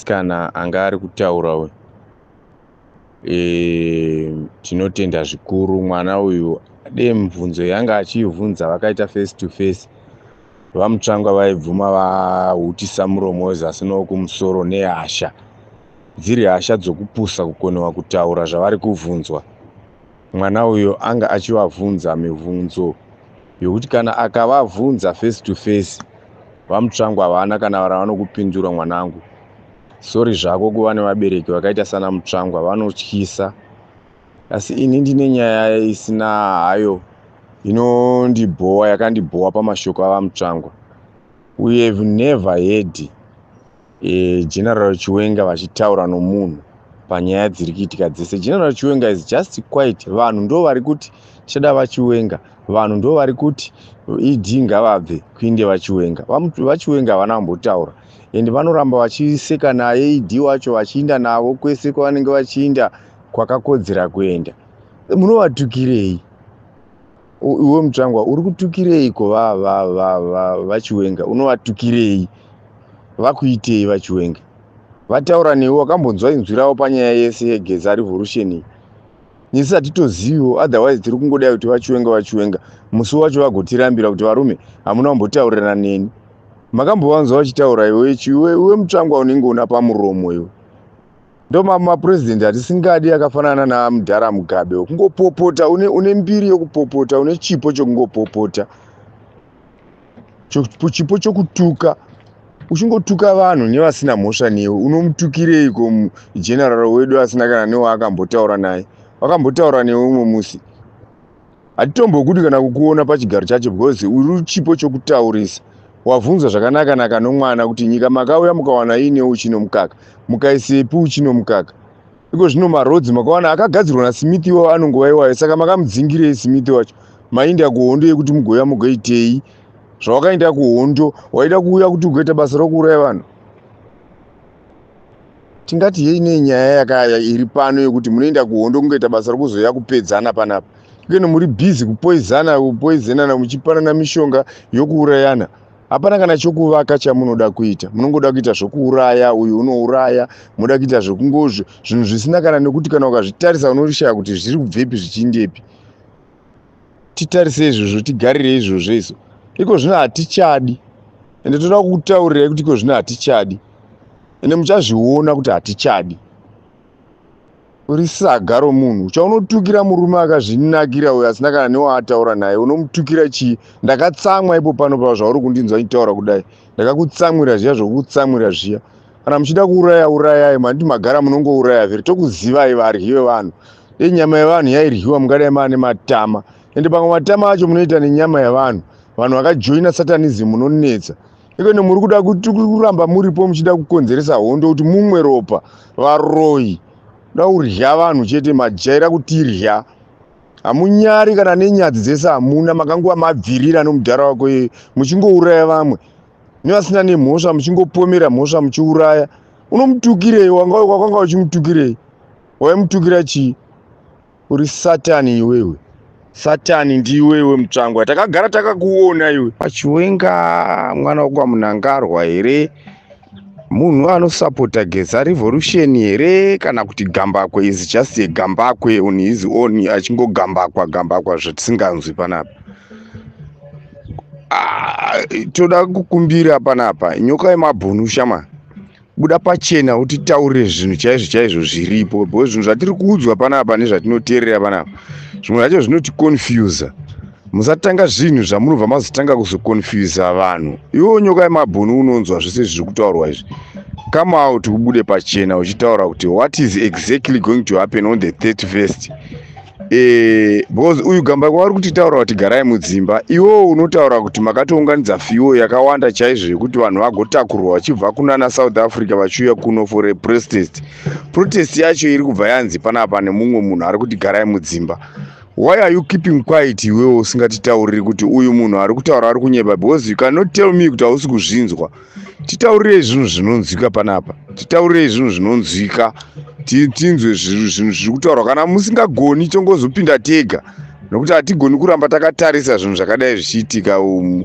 Kana anga ari kutaura uyu e, tinotenda zvikuru mwana uyu de mibvunzo yanga achiivhunza vakaita face to face vamutsvangwa vaibvuma vahutisa muromo wezasi nowokumusoro nehasha dziri hasha dzokupusa kukonewa kutaura zvavari kuvhunzwa Mwana uyo anga achivavhunza mivhunzo yokuti kana akavavhunza face to face vamutsvangu havana kana ravanokupindura mwanangu sori zvako kuva nevabereki vakaita sana mutsvangwa vanotyisa asi ini ndine nyaya isina hayo inondibhowa yakandibhowa pamashoko avamutsvangwa uye never hedi e, general chiwenga vachitaura nomunhu panyaya dziri kuitika dzese general chiwenga is just quite vanhu ndo vari kuti tichada vachiwenga vanhu ndo vari kuti ed ngavabve kuinde vachiwenga vachiwenga havana kumbotaura and vanoramba vachiseka naye ed wacho vachiinda navo kwese kwavanenge vachiinda kwakakodzera kuenda munovatukirei iwe mutsvangwa uri kutukireiko vachiwenga unovatukirei vakuitei vachiwenga vataura newe wakambonzwa inzwi ravo panyaya yese yegeza revolution iyi nesu hatitoziviwo otherwise tiri kungodai kuti vachiwenga vachiwenga musi wacho vagotirambira kuti varume hamuna kumbotaurirana neni makambovanzwa vachitaura iwe iwe mutsvangwa unenge una pamuromo iwe ndomamapurezidenti atisingadi akafanana namudhara mugabe kungopopota une, une mbiri yokupopota une chipo chokungopopota chipo chokutuka uchingotuka vanhu nevasina mhosva newe unomutukireiko general wedu asina kana newaakambotaura naye wakambotaura newe umwe musi hatitombokudi kana kukuona pachigaro chacho because uri chipo chokutaurisa wavhunzwa zvakanaka naka nomwana kuti nyika makauya mukawana iine uchi nomukaka mukaisepi uchi nomukaka iko zvino marodzi makawana akagadzirwa nasmith iwawo anongova iwayo saka makamudzingirei smith wacho mainda kuhondo yekuti mugoya mugoitei zvawakainda kuhondo waida kuuya kuti ugoita basa rokuuraya vanhu tingati yei nei nyaya yakaya iri pano yekuti munoenda kuhondo kungoita basa rokuzoya kupedzana panapa ikeno muri bhizi kupoizana kupoizenana muchipanana mishonga yokuurayana hapana kana chokuvaka chamunoda kuita munongoda kuita zvokuuraya uyu unouraya munoda kuita zvokungozvo zvinhu zvisina kana nekuti kana ukazvitarisa unorishaya kuti zviri kubvepi zvichiindepi titarise izvozvo tigarire izvozvo isu iko zvino hatichadi ende toda kutaurirai kuti iko zvino hatichadi ende muchazviona kuti hatichadi uri saga romunhu chaunotukira murume akazvinakira uyo asina kana newaataura naye unomutukira chii ndakatsamwa ipo pano pa zvauri kundinzwa nditaura kudai ndakakutsamwira zviya zvokukutsamwira zviya kana muchida kuuraya urayai mandi magara munongouraya zviri tokuzivai varyi vevanhu dei nyama yevanhu yairyiwa mungadai maa nematama ende pamwe matama acho munoita nenyama yevanhu vanhu vakajoina satanism munonetsa ikone muri kuda kuti kuramba muripo muchida kukonzeresa hondo kuti mumwe ropa varoyi da kurya vanhu chete majaira kutirya hamunyari kana nenyadzi dzese hamuna makanguva mabvirira nomudhara wako iye muchingouraya vamwe nevasina nemhosva muchingopomera mhosva muchiuraya unomutukirei wanga wakwanga uchimutukirei waimutukira chii uri satani iwewe satani ndiiwewe mutsvangwa takagara takakuona iwe pachiwenga mwana wekwamunangarwa here munhu anosapota geza revolution here kana kuti gambakwe is just a gambakwe on his own achingogambakwa gambakwa zvatisinganzwi panapa Ah, toda kukumbira panapa nyoka yemabhunu shama buda pachena utitaurire zvinhu chaizvo chaizvo zviripo because zvinhu zvatiri kuudzwa panapa nezvatinoteerera panapa zvimwe zvacho zvinoticonfusa musatanga zvinhu zvamunobva mazotanga kuzoconfusa vanhu iwo nyoka yemabhunu unonzwa zvese zviri kutaurwa izvi come out ubude pachena uchitaura kuti what is exactly going to happen on the 31st Eh, because uyu gamba kwavari kutitaura kuti garai mudzimba iwewo unotaura kuti makatounganidza fiwo yakawanda chaizvo yekuti vanhu vagotakurwa vachibva kunana south africa vachiuya kuno for a protest protest yacho iri kubva yanzi panapa nemumwe munhu ari kuti garai mudzimba why are you keeping quiet iwewo usingatitauriri kuti uyu munhu ari kutaura ari kunyeba because you cannot tell me kuti hausi kuzvinzwa titaurirei zvinhu zvinonzwika panapa titaurirei zvinhu zvinonzwika tinzwe zvinhu zviri kutaurwa kana musingagoni tongozopinda tega nokuti hatigoni kuramba takatarisa zvinhu zvakadai zvichiitika umu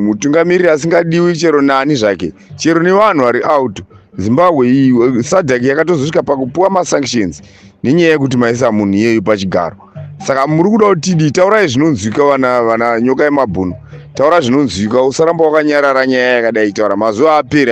mutungamiriri asingadiwi chero nani zvake chero nevanhu vari out zimbabwe iyi sadhaki yakatozosvika pakupiwa masanctions nenyaya yekuti maisa munhu iyeyu pachigaro saka muri kuda kuti tidii taurai zvinonzwika vana vana nyoka yemabhunu taura zvinonzwika usaramba wakanyarara nyaya yakadai taura mazuva aperi